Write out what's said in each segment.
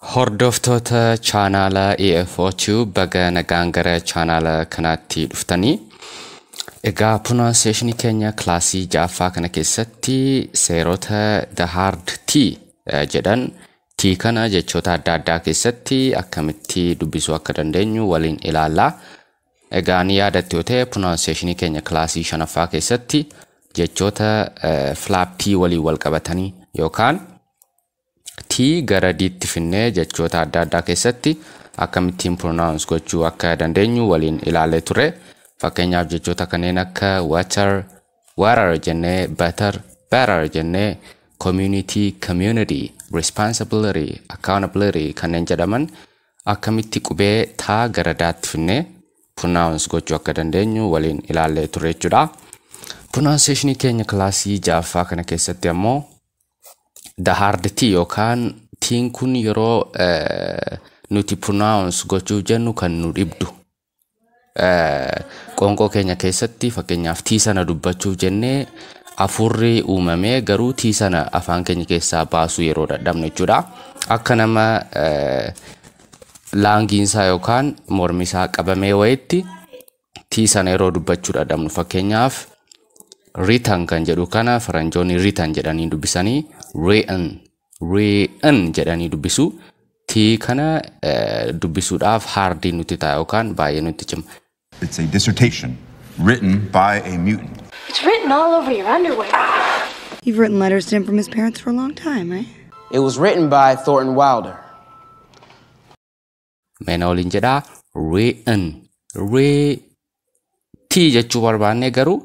Hordoftoota chaanaala EFO Tube baga nagaan gara chaanaala kanaatti dhuftanii. Egaa pronunciation keenya kilaasii ja'affaa kana keessatti seerota the hard T eh, jedhan T kana jechoota adda addaa keessatti akkamitti dubbisuu akka dandeenyu waliin ilaalla. Egaa ni yaadatte yoo ta'e pronunciation keenya kilaasii shanaffaa keessatti jechoota eh, flap T waliin wal qabatanii yookaan T gara D tti finnee jechoota adda addaa keessatti akkamittiin pronounce gochuu akka dandeenyu waliin ilaalee ture. Fakkeenyaaf jechoota kanneen akka water, water jennee, butter, butter jennee, community, community, responsibility, accountability kanneen jedhaman akkamitti qubee taa gara daatti finnee pronounce gochuu akka dandeenyu waliin ilaallee turre jechuudha. Pronunciation keenya kilaasii ja'affaa kana keessatti ammoo the hard t yookaan tiin kun yeroo eh, nuti pronounce gochuuf jennu kan nu dhibdu eh, qoonqoo keenya keessatti fakkeenyaaf tii sana dubbachuuf jennee afuurri uumamee garuu tii sana afaan keenya keessaa baasuu yeroo dadhabnu jechuudha akka nama eh, laangiinsaa yookaan mormisaa qabamee wayitti tii sana yeroo dubbachuu dhadhabnu fakkeenyaaf ritan kan jedhu kana faranjoonni ritan jedhanii dubbisanii re'an re'an jedhanii dubbisu tii kana eh, dubbisuudhaaf haardii nutti ta'a yookaan baay'ee nutti cima. It's a dissertation written by a mutant. It's written all over your underwear. You've written letters to him from his parents for a long time, right? It was written by Thornton Wilder. Mee na waliin jedhaa written written jechuu barbaannee garuu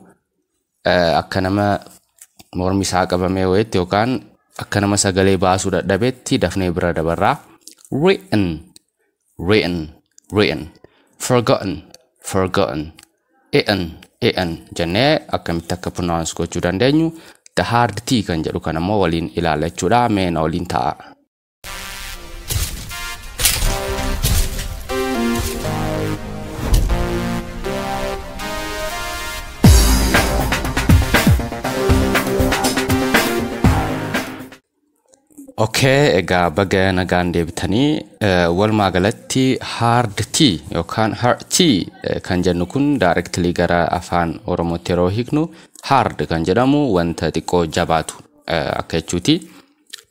eh, akka nama mormi isaa qabamee wayitti yookaan akka nama sagalee baasuu dadhabetti dafnee bira dabarraa written written written forgotten forgotten e'en e'en jennee akkamitti akka pronounce gochuu dandeenyu the hard t kan jedhu kan ammoo waliin ilaalla jechuudha mee na waliin ta'a. Okay, egaa baga nagaan deebitanii eh, walumaa galatti hard tea yookaan hard tea eh, kan jennu kun directly gara afaan oromootti yeroo hiiknu hard kan jedhamu wanta xiqqoo jabaatu eh, akka jechuuti.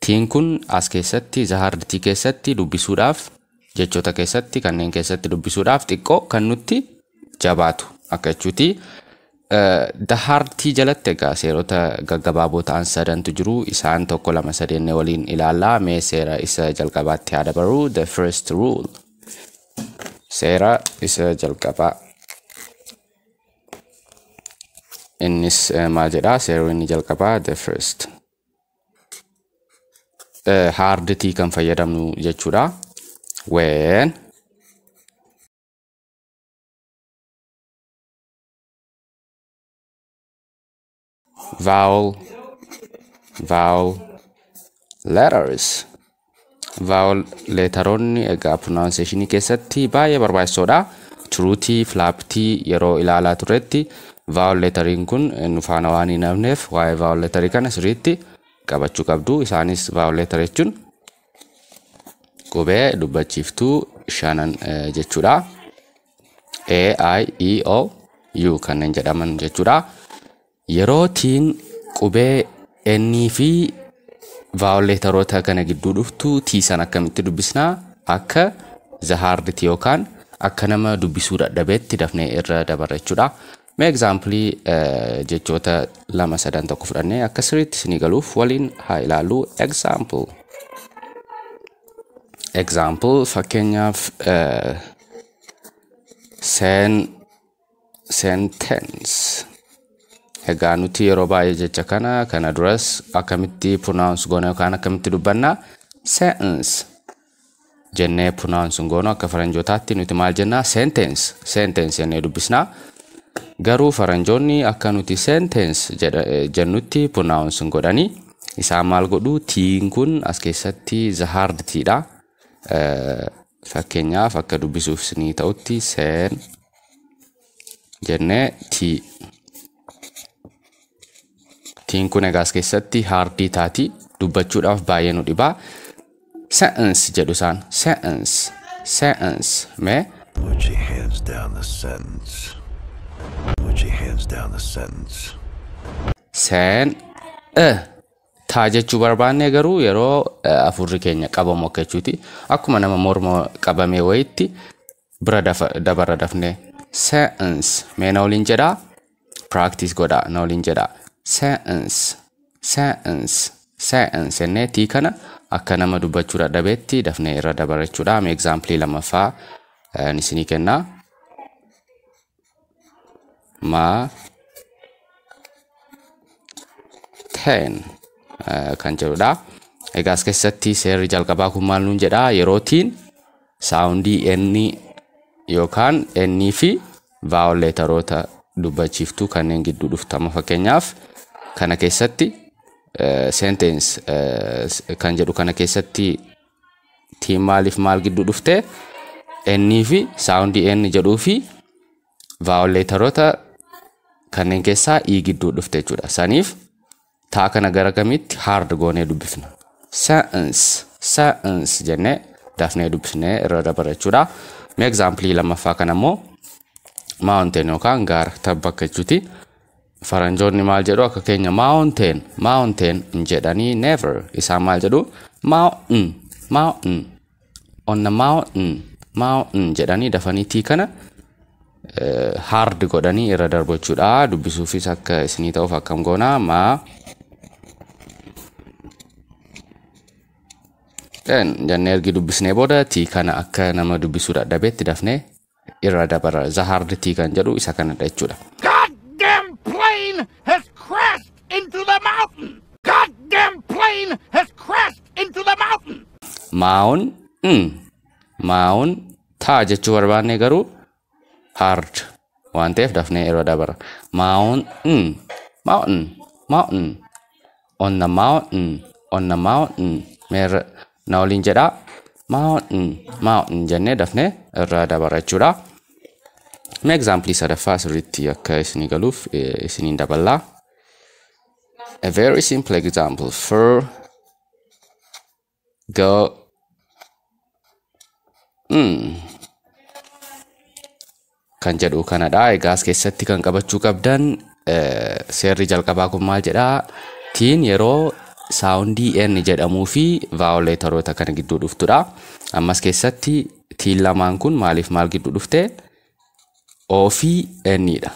Tiin kun as keessatti the hard tii keessatti dubbisuudhaaf jechoota keessatti kanneen keessatti dubbisuudhaaf xiqqoo kan nutti jabaatu akka jechuuti. The hard tii jalatti egaa seerota gaggabaaboo ta'an sadantu jiru isaan tokko lama sadeenne waliin ilaallaa mee seera isa jalqabaatti haa dabarru the first rule seera isa jalqabaa innis maal jedhaa seerri inni jalqabaa the first haarditii kan fayyadamnu jechuudha. When vowel vowel letters Vaawol leetaroonni egaa pronunciation keessatti baay'ee barbaachisoodha. Turuutii, filaaptii yeroo ilaalaa turretti vaawol leetariin kun nu faana waan hin hafneef waa'ee vaawol leetarii kana sirriitti qabachuu qabdu. Isaanis vaawol leetara jechuun qubee dubbachiiftuu shanan eh, jechuudha. A, I, E, O, U kanneen jedhaman jechuudha. Yeroo tiin qubee N fi vowel leetaroota kana gidduu dhuftu T san akkamitti dubbisna? Akka the hard T yookaan akka nama dubbisuu dadhabeetti dafnee irra dabarra jechuudha. Mee example jechoota lama sadan tokko fudhannee akka sirriitti isinii galuuf waliin haa ilaallu. Example. Example fakkeenyaaf eh, seen sentence egaa nuti yeroo baay'ee jecha kana kana duras akkamitti pronounce goona yookaan akkamitti dubbanna sentence jennee pronounce goonu akka faranjootaatti nuti maal jennaa sentence sentence jennee dubbisna garuu faranjoonni akka nuti sentence jedha- eh, jennutti pronounce godhani isaan maal godhu tiin kun as keessatti the hard tiidha fakkeenyaaf akka dubbisuuf isinii ta'utti sen jennee tii tiin kun egaas keessatti haardii taati dubbachuudhaaf baay'ee nu dhibaa se'ans jedhu isaan se'ans se'ans mee Put your hands down the sentence. Put your hands down the sentence. seen e taa jechuu barbaanne garuu yeroo eh, afurri keenya qabamu akka jechuuti akkuma nama morma qabamee wayitti bira dafa- dabarra dafne se'ns mee na waliin jedha practice godha na waliin jedha se'ns se'ns se'ns jennee tii kana akka nama dubbachuu dadhabeetti dafnee irra dabarra jechuudha mee example lammaffaa eh, isinii kennaa ma ten kan jedhudha. Egaa as keessatti seerri jalqabaa kun maal nuun jedha yerootiin saawundii inni yookaan inni fi vaawol leetaroota dubbachiiftuu kanneen gidduu dhuftama fakkeenyaaf kana keessatti sentence kan jedhu kana keessatti tiin maaliif maal gidduu dhufte ennii fi saawundii enni jedhuu fi vaawuleetaroota kanneen keessaa ii gidduu dhufte jechuudha. Saniif taa kana gara kamitti haard goonee dubbifna. Sa'ins sa'ins jennee dafnee dubbifnee irra dabara jechuudha. Mee egzaampilii lammaffaa kana immoo maawunteen yookaan gaara tabba akka jechuuti. Faranjoonni maal jedhu akka keenya mountain mountain hin jedhanii never isaan maal jedhu mountain mountain on the mountain mountain jedhanii dafanii tii kana eh, hard godhanii irra darbu jechuudha dubbisuufis akka isinii ta'uuf akkam goona ma ten jennee ergi dubbisnee booda tii kana akka nama dubbisuu dadhabeetti dafnee irra dabara the hard tea kan jedhu isa kanadha jechuudha. Goddamn plane has crashed into the mountain. Goddamn plane has crashed into the mountain. Maa'oon mm, maa'oon taa jechuu barbaanne garuu hard waan ta'eef dafnee irra dabara. Maa'oon mm, mountain mountain on the mountain on the mountain mee irra na waliin jedha mountain mountain jennee dafne irra dabara jechuudha mee egzaampilii sadaffaa sirriitti akka isinii galuuf eh, isiniin daballaa a very simple example for Go. Mm. Kan jedhu kanadha. Egaa as keessatti kan qabachuu qabdan eh, seerri jalqabaa kun maal jedha? Tiin yeroo saawundii N jedhamuu fi vaawuleetaroota kana gidduu dhuftudha. Ammas keessatti tiin lamaan kun maaliif maal gidduu dhufte? O fi N dha.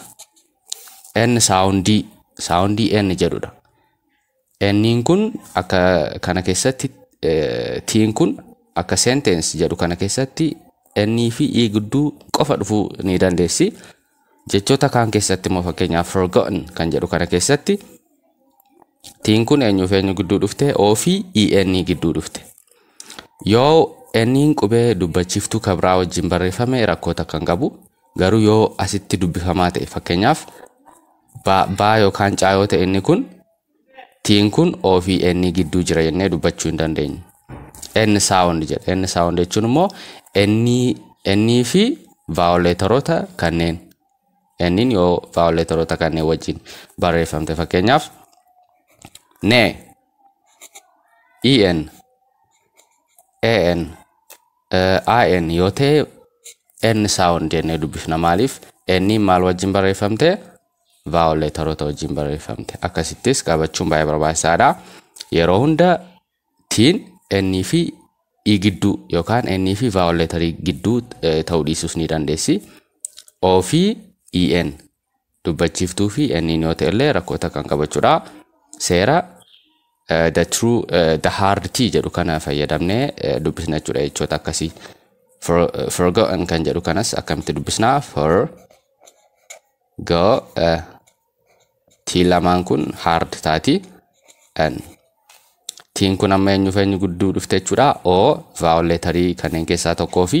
N saawundii saawundii N jedhudha. N'n kun akka kana keessatti T'n kun akka sentence jedhu kana keessatti N fi E gidduu qofa dhufuu ni dandeessi. Jechoota kaan keessatti immoo fakkeenyaaf forgotten kan jedhu kana keessatti T'n kun eenyuuf eenyu gidduu dhufte O fi EN gidduu dhufte. Yoo N'n qubee dubbachiiftuu kan biraa wajjin barreeffame rakkoo takka hin qabu. Garuu yoo asitti dubbifamaa ta'e fakkeenyaaf Ba, baa yookaan caa yoo ta'e inni kun tiin kun o fi n gidduu jira jennee dubbachuu hin dandeenyu. n sound jedha. n sound jechuun immoo n n fi vaawuleetaroota kanneen n yoo vaawuleetaroota kanneen wajjin barreeffamte fakkeenyaaf ne en an eh, in yoo ta'e N sound jennee dubbifna maaliif N maal wajjin barreeffamte vowel leetaroota wajjin barreeffamte akkasittis qabachuun baay'ee barbaachisaadha yeroo hunda tiin N fi i gidduu yookaan N fi vowel leetarii gidduu eh, ta'uu dhiisuus ni dandeessi O fi EN dubbachiiftuu fi N yoo ta'e illee rakkoo takka hin qabu jechuudha. Seera eh, the true eh, the hard T jedhu kana fayyadamnee eh, dubbisna jechuudha jechoota akkasii. For, eh, forgotten kan jedhu kanas akkamitti dubbisna? For go eh, T lamaan kun hard taati. N. Tiin kun amma eenyuuf eenyu gudduu dhufte jechuudha. O vowel leetarii kanneen keessaa tokkoo fi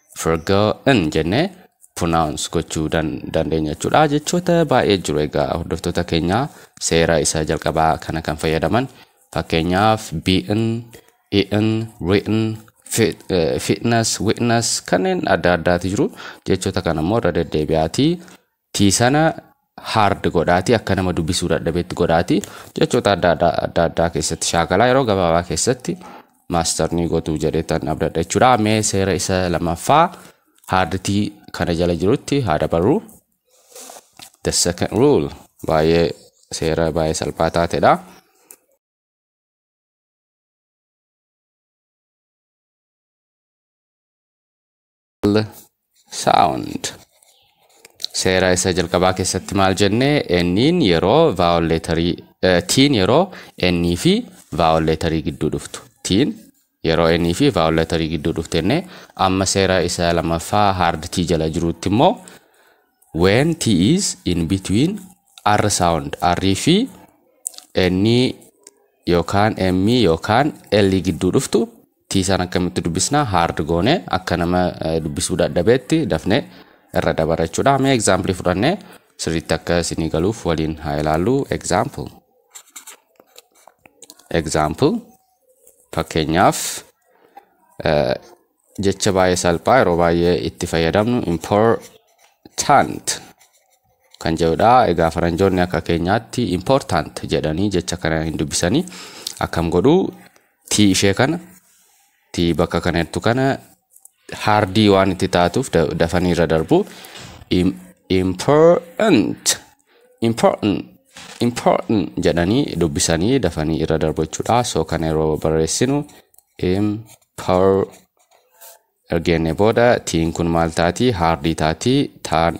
forgotten jennee pronounce gochuu dan- dandeenya jechuudha. Jechoota baay'ee jiru egaa hordoftoota keenya seera isa jalqabaa kana kan fayyadaman fakkeenyaaf beaten, eaten, written, fit- eh, fitness, witness kanneen adda addaati jiru. Jechoota kana immoo irra deddeebi'aatii tii sana hard godhaati akka nama dubbisuu dadhabetti godhaati jechoota adda adda adda addaa keessatti shaakalaa yeroo gabaabaa keessatti maaster ni gotuu jedhetan abdadha jechuudha mee seera isa lamaffaa haarditii kana jala jirutti haa dabarru the second rule baay'ee seera baay'ee salphaa taatedha. sound seera isa jalqabaa keessatti maal jenne enniin yeroo vaawol leetarii tiin yeroo ennii fi vaawol leetarii gidduu dhuftu tiin yeroo ennii fi vaawol leetarii gidduu dhuftu jenne amma seera isa lammaffaa hard tii jala jirutti immoo when t is in between r sound r fi ennii yookaan emmii yookaan l gidduu dhuftu T san akkamitti dubbisna hard goone akka nama dubbisuu dadhabeetti dafne irra dabara jechuudha mee example fudhanne sirriitti akka isinii galuuf waliin haa ilaallu example example fakkeenyaaf jecha baay'ee salphaa yeroo baay'ee itti fayyadamnu important kan jedhudha egaa faranjoonni akka keenyaatti important jedhanii jecha kana hin dubbisanii akkam godhuu tii ishee kana tii bakka kana jirtu kana haardii waan itti taatuuf da- dafanii irra darbu Im- important important important jedhanii dubbisanii dafanii irra darbu jechuudha so kana yeroo barreessinu impor ergeenne booda tiin kun maal taati haardii taati taan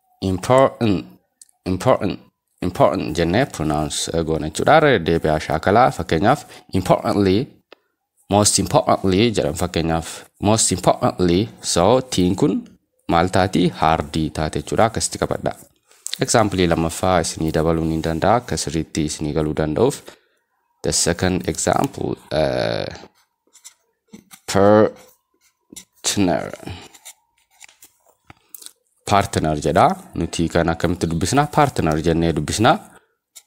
important important important jennee pronounce goona jechuudha irra deddeebi'aa shaakalaa fakkeenyaaf importantly most importantly jedhan fakkeenyaaf most importantly so tiin kun maal taati haardii taate jechuudha akkasitti qabadha example lammaffaa isinii dabaluu ni danda'a akka sirriitti isinii galuu danda'uuf the second example uh, partner partner jedha nuti kan akkamitti dubbisna partner jennee dubbisna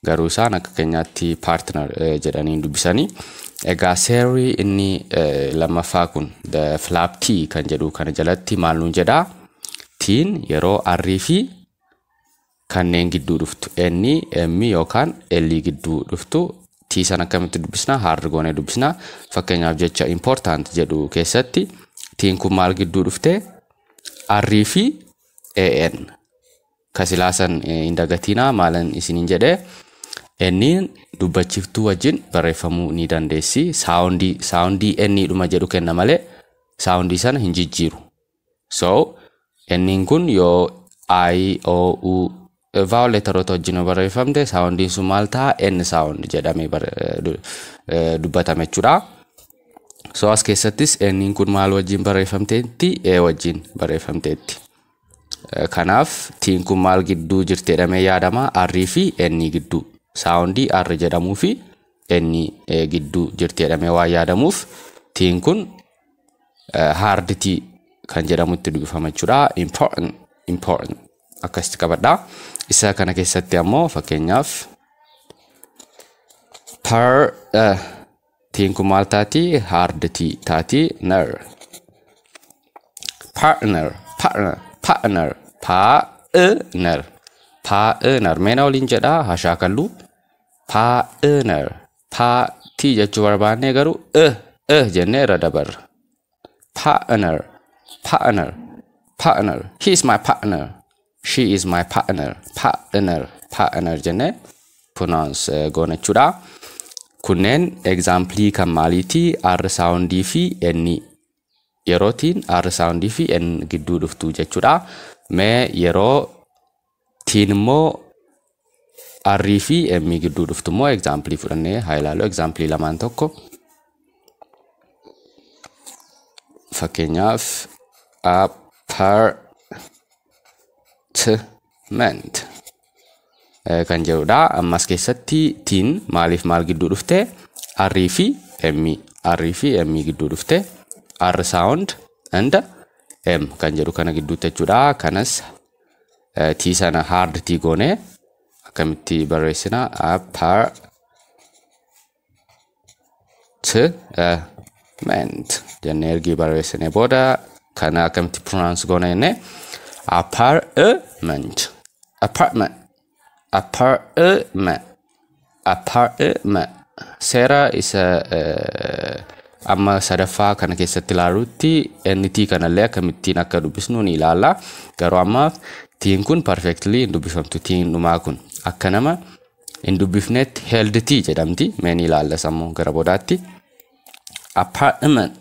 garuu isaan akka keenyaatti partner eh, jedhanii hin dubbisanii egaa seerri inni eh, lammaffaa kun the flap t kan jedhu kana jalatti maal nuun jedha tiin yeroo arrii fi kanneen gidduu dhuftu N, M yookaan L gidduu dhuftu T san akkamitti dubbisna? Hard goonee dubbisna. Fakkeenyaaf jecha important jedhu keessatti T'n kun maal gidduu dhufte? R fi AN. Ka silaa san eh, hin dagatiinaa maalan isiniin jedhe N dubbachiftuu wajjin barreeffamuu ni dandeessi. Saawundii saawundii N dhuma jedhu kenna malee saawundii sana hin jijjiiru. So, N'n kun yoo I, O, U vowel letteroota wajjin yoo barreeffamte saawundiin sun maal ta'a? N saawundi jedhamee bar- eh, du- eh, dubbatama jechuudha. So as keessattis N'n kun maal wajjin barreeffamteetti? E wajjin barreeffamteetti. Eh, Kanaaf tiin kun maal gidduu jirti jedhamee yaadama? R fi N gidduu. Saawundii R jedhamuu fi N eh, gidduu jirti jedhamee waan yaadamuuf tiin kun haarditii kan jedhamutti dubbifama jechuudha. Important, important akkasitti qabadha. Isa kana keessatti ammoo fakkeenyaaf per eh, tiin kun maal taati? Haarditii taati. Ner. Partner, partner, partner, partner, partner. Meena waliin jedha hashaa kallu. Partner, Taa, tii jechuu barbaannee garuu e, e jennee irra dabarra. Partner, partner, partner. He is my partner. She is my partner. Partner, partner jennee pronounce eh, goona jechuudha. Kunneen example kan maaliiti? R soundii fi N yerootiin R soundii fi N gidduu dhuftu jechuudha. Mee yeroo Tiin immoo R fi M gidduu dhuftu immoo egzaampilii fudhannee haa ilaallu. Egzaampilii lamaan tokko fakkeenyaaf apartment kan jedhudha. Ammas keessatti tiin maaliif maal gidduu dhufte? R fi M. R fi M gidduu dhufte. R sound and M kan jedhu kana gidduutti jechuudha. Kanas tii sana hard tii goone akkamitti barreessina apar t ment jenne ergii barreessine booda kana akkamitti pronounce goona jenne apar ment apartment Apartment. Apartment. Seera isa eh, amma sadaffaa kana keessatti ilaalutti NT kanallee akkamittiin akka dubbisnu ni ilaalla. Garuu ammaaf tiin kun perfectly hin dubbifamtu tiin dhumaa kun akka nama hin dubbifnetti held tii jedhamti. Mee ni ilaalla sammuu gara boodaatti. Apartment.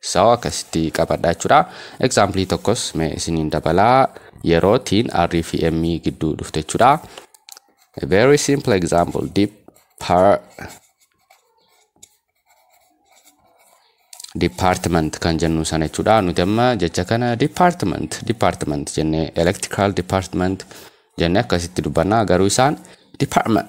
So akkasitti qabadha jechuudha. Example tokkos mee isiniin dabalaa yeroo tiin R fi M gidduu dhufte jechuudha. A very simple example depart department kan jennu sana jechuudha. Nuti amma jecha kana department department jennee electrical department jennee akkasitti dubbanna garuu isaan department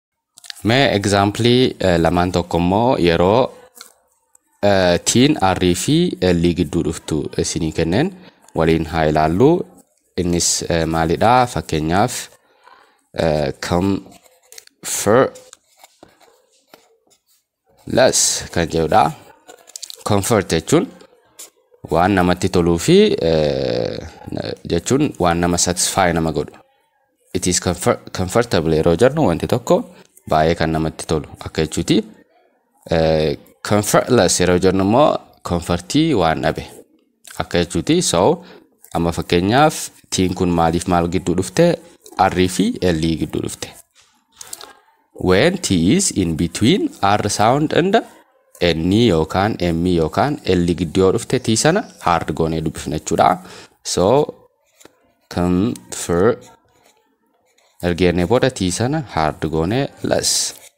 Mee egzaampilii lamaan tokko immoo yeroo tiin R fi L gidduu dhuftu isinii kenneen waliin haa ilaallu. Innis maalidha? Fakkeenyaaf kam fir Las kan jedhudha. Comfort jechuun waan namatti toluu fi jechuun waan nama satisfy nama godhu. It is comfortable yeroo jennu wanti tokko baay'ee kan namatti tolu akka jechuuti. Comfortless yeroo jennu immoo comfortii waan dhabe. akka jechuuti so amma fakkeenyaaf tiin kun maaliif maal gidduu dhufte r fi l gidduu dhufte when t is in between r sound and n yookaan m yookaan l gidduu yoo dhufte t sana hard goonee dubbifna jechuudha so kan fir ergeennee booda t sana hard goonee las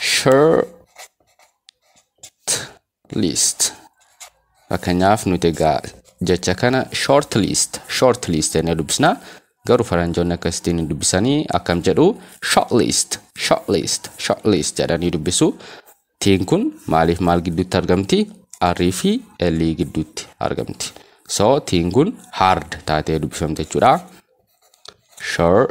short list fakkeenyaaf nuti egaa jecha kana short list short list jennee dubbisna garuu faranjoonni akkasittiin hin dubbisanii akkam jedhu short list short list short list jedhanii dubbisu tiin kun maaliif maal gidduutti argamti arrii fi ellii gidduutti argamti so tiin kun hard taatee dubbifamte jechuudha short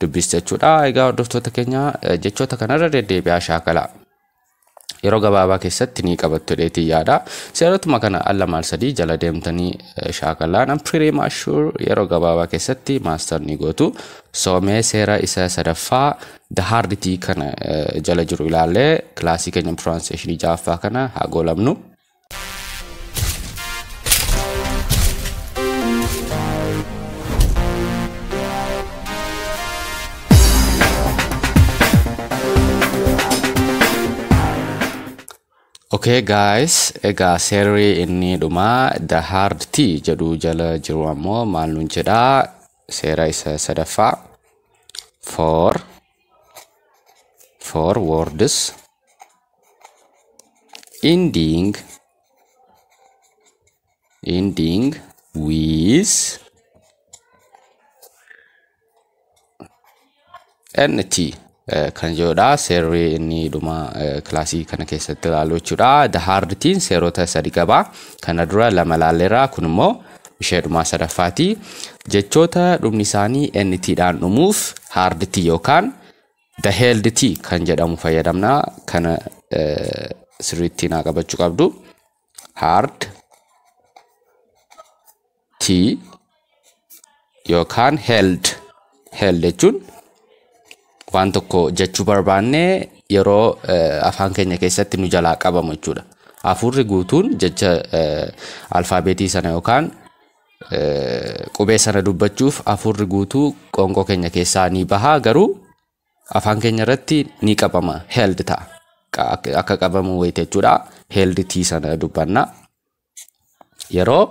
dubbis jechuudha. Egaa hordoftoota keenya jechoota kanarra deddeebi'aa shaakala. Yeroo gabaabaa keessatti ni qabattu jedheetii yaada. Seerotuma kana al lama al sadii jala deemtanii shaakalaa nam pretty much sure yeroo gabaabaa keessatti maaster ni gootu. Soomee seera isa sadaffaa the hard tea kana jala jiru ilaallee kilaasii keenya pronunciation ja'affaa kana haa goolamnu. Okay guys, egaa seerri inni dhumaa the hard T jedhu jala jiru ammoo maal nuun jedha seera isa sadaffaa for for words ending ending with nt eh, kan jedhudha seerri inni dhuma eh, kilaasii kana keessatti ilaalu jechuudha the hard tiin seerota sadi qaba kana dura lama ilaalleerra kun immoo ishee dhumaa sadaffaati jechoota dhumni isaanii nt dhaan dhumuuf hard tii yookaan The held T kan jedhamu fayyadamna. Kana sirriitti naa qabachuu qabdu. Hard T yookaan held. Held jechuun waan tokko jechuu barbaanne yeroo afaan keenya keessatti nu jalaa qabamu jechuudha. Hafuurri guutuun jecha alfaabeetii sana yookaan Qubee sana dubbachuuf hafuurri guutuu qoonqoo keenya keessaa ni baha garuu afaan keenya irratti ni qabama held ta'a. Qa- akka- Akka qabamu wayita jechuudha. Held tii sana dubbanna. Yeroo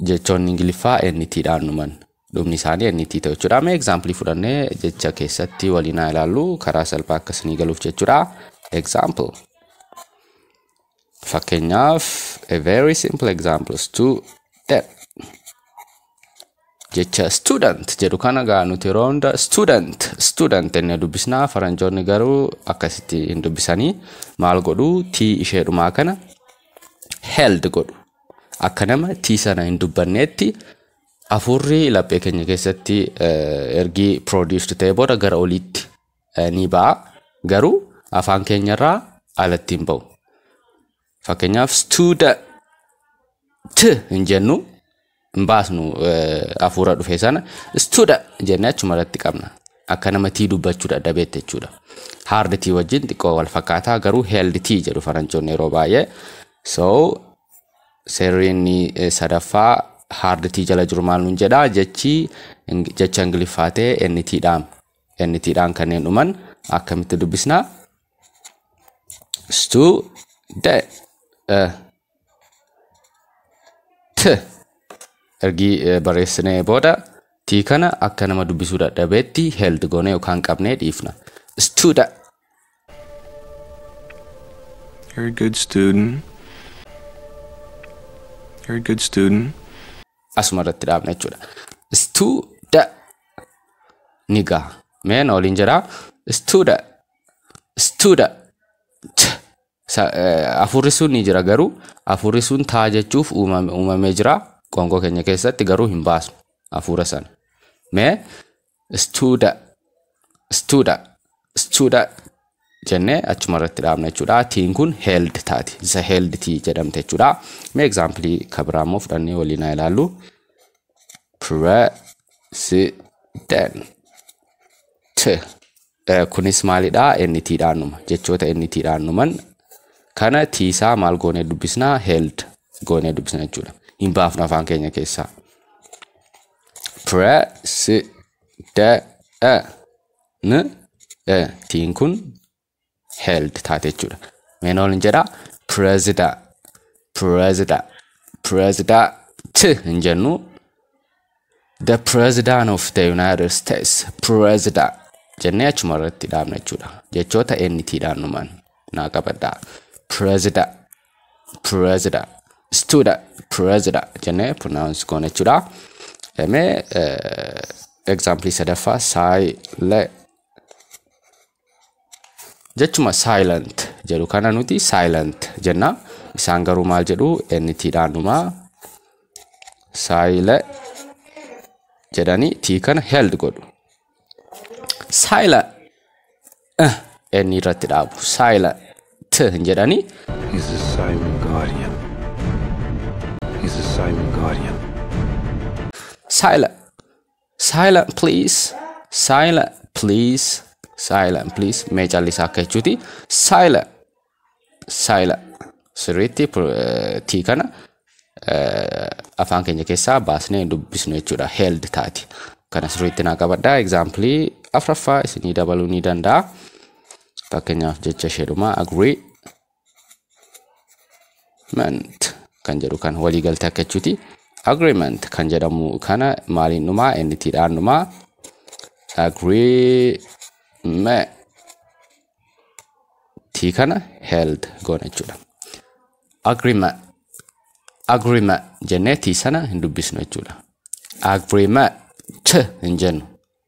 jechoonni Ingiliffaa NT dhaan dhuman dhumni isaanii NT ta'u jechuudha. Mee egzaampilii fudhannee jecha keessatti waliin haa ilaallu karaa salphaa akka isinii galuuf jechuudha. Example. Fakkeenyaaf, a very simple example, student. Jecha student jedhu kana gaa nuti yeroo hunda student student inni dubbisna faranjoonni garuu akkasitti hin dubbisanii maal godhu tii ishee dhumaa kana held godhu akka nama tii sana hin dubbanneetti afuurri laphee keenya keessatti ergii produce ta'e booda gara oliitti ni ba'a. Garuu afaan keenya irraa alatti hin ba'u. Fakkeenyaaf studa t hin jennu hin baasnu hafuura dhufe sana studa jennee achuma irratti qabna. Akka nama tii dubbachuu dadhabeetti jechuudha. Hard tii wajjin xiqqoo wal fakkaataa garuu held tii jedhu faranjoonni yeroo baay'ee. So seerriin sadaffaa hard tii jala jiru maal nuun jedha jechi jecha ingiliffaa ta'e NT dhaam. NT dhaan kanneen dhuman akkamitti dubbisna? Stu da eh, t ergi eh, barreessinee booda t kana akka nama dubbisuu dadhabeetti held goonee yookaan qabnee dhiifna. Stu da You're a good student. You're a good student. asuma irratti dhaabna jechuudha. Studa ni gaha. Mee na waliin jira. Studa studa t Sa- eh, hafuurri sun ni jira garuu hafuurri sun taa jechuuf uumame- uumamee jira qoonqoo keenya keessatti garuu hin baasnu hafuura sana. Mee studa studa studa jennee achuma irratti dhaabna jechuudha. Tiin kun held taati. Isa held tii jedhamte jechuudha. Mee egzaampilii kan biraa immoo fudhannee waliin haa ilaallu. President Kunis maalidha? NT dhaan dhuma. Jechoota NT dhaan dhuman kana tiisaa maal goonee dubbisna? Held goonee dubbisna jechuudha. Hin baafnu afaan keenya keessaa. President tiin kun held taate jechuudha. Meen ol hin jedha? President, president, president hin jennu. The President of the United States President jennee achuma irratti dhaabna jechuudha. Jechoota NT dhaan numan naa qabadha. President President Student President jennee pronounce goona jechuudha. Mee example sadaffaa saayilee Jechuma silent jedhu kana nuti silent jenna. Isaan garuu maal jedhu NT dhaan dhuma. Saayila jedhanii T kana held godhu. Saayila N irratti dhaabu. Saayila T hin jedhanii He's a silent guardian. He's a silent guardian. saayila Silent please. Silent please. Silent please. Mee callisaa akka jechuuti. Silent. Silent. Sirriitti tii kana afaan keenya keessaa baasnee dubbisnu jechuudha. Held taati. Kana sirriitti naa qabadha. Egzaampilii afraffaa isinii dabaluu ni danda'a. Fakkeenyaaf jecha isheedhuma agree. agreement kan jedhu kan walii galte akka jechuuti agreement kan jedhamu kana maaliin dhumaa enti dhaan dhumaa agreement tii kana held goona jechuudha agreement agreement jennee tii sana hin dubbisnu jechuudha agreement t hin jennu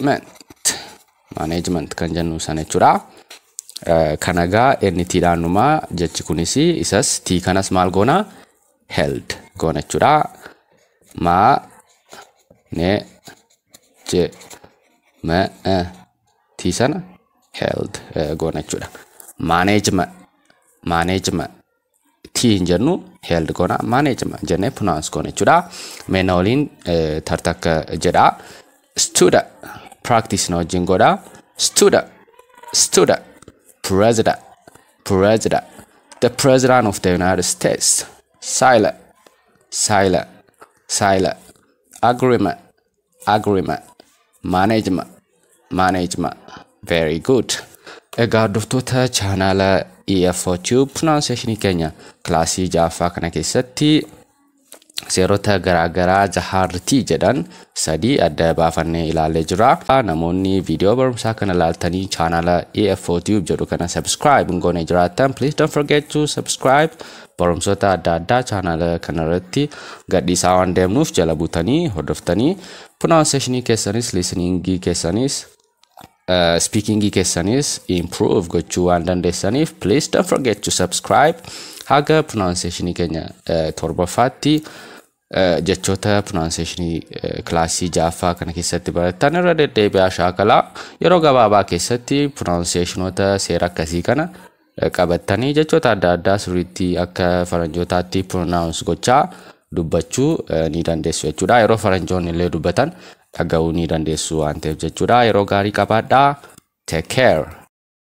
management management kan jennu sana jechuudha. Kana egaa NT dhaan dhuma jechi kunis isas T kanas maal goona held goona jechuudha. Ma ne je ma T sana held goona jechuudha. Management management t hin jennu held goona manage jennee pronounce goona jechuudha mee na waliin eh, tartakka jedha studa practice na wajjin godha studa studa president president the president of the united states silent silent silent agreement agreement management management very good egaa hordoftoota chaanaala EFO Tube pronunciation keenya kilaasii ja'affaa kana keessatti seerota garaagaraa jahaartii jedhan sadii adda baafannee ilaallee jira. Namoonni viidiyoo barumsaa kana ilaaltanii chaanaala EFO Tube jedhu kana subscribe hin goone jiraattan please don't forget to subscribe barumsoota adda addaa chaanaala kanarratti gadhiisaa waan deemnuuf jala butanii hordoftanii pronunciationii keessanis listeningii keessanis speakingii keessanis improve gochuu waan dandeessaniif please don't forget to subscribe haga pronunciationii keenya torbaffaatti Jechoota pronunciation kilaasii 6ffaa kana keessatti barattan irra deddeebi'aa shaakalaa yeroo gabaabaa keessatti pronunciationota seera akkasii kana qabattanii jechoota adda addaa sirriitti akka faranjootaatti pronounce gochaa dubbachuu ni dandeessu jechuudha. Yeroo faranjoonni illee dubbatan dhaga'uu ni dandeessu waan ta'eef jechuudha. Yeroo gaarii qabaadhaa. Take care.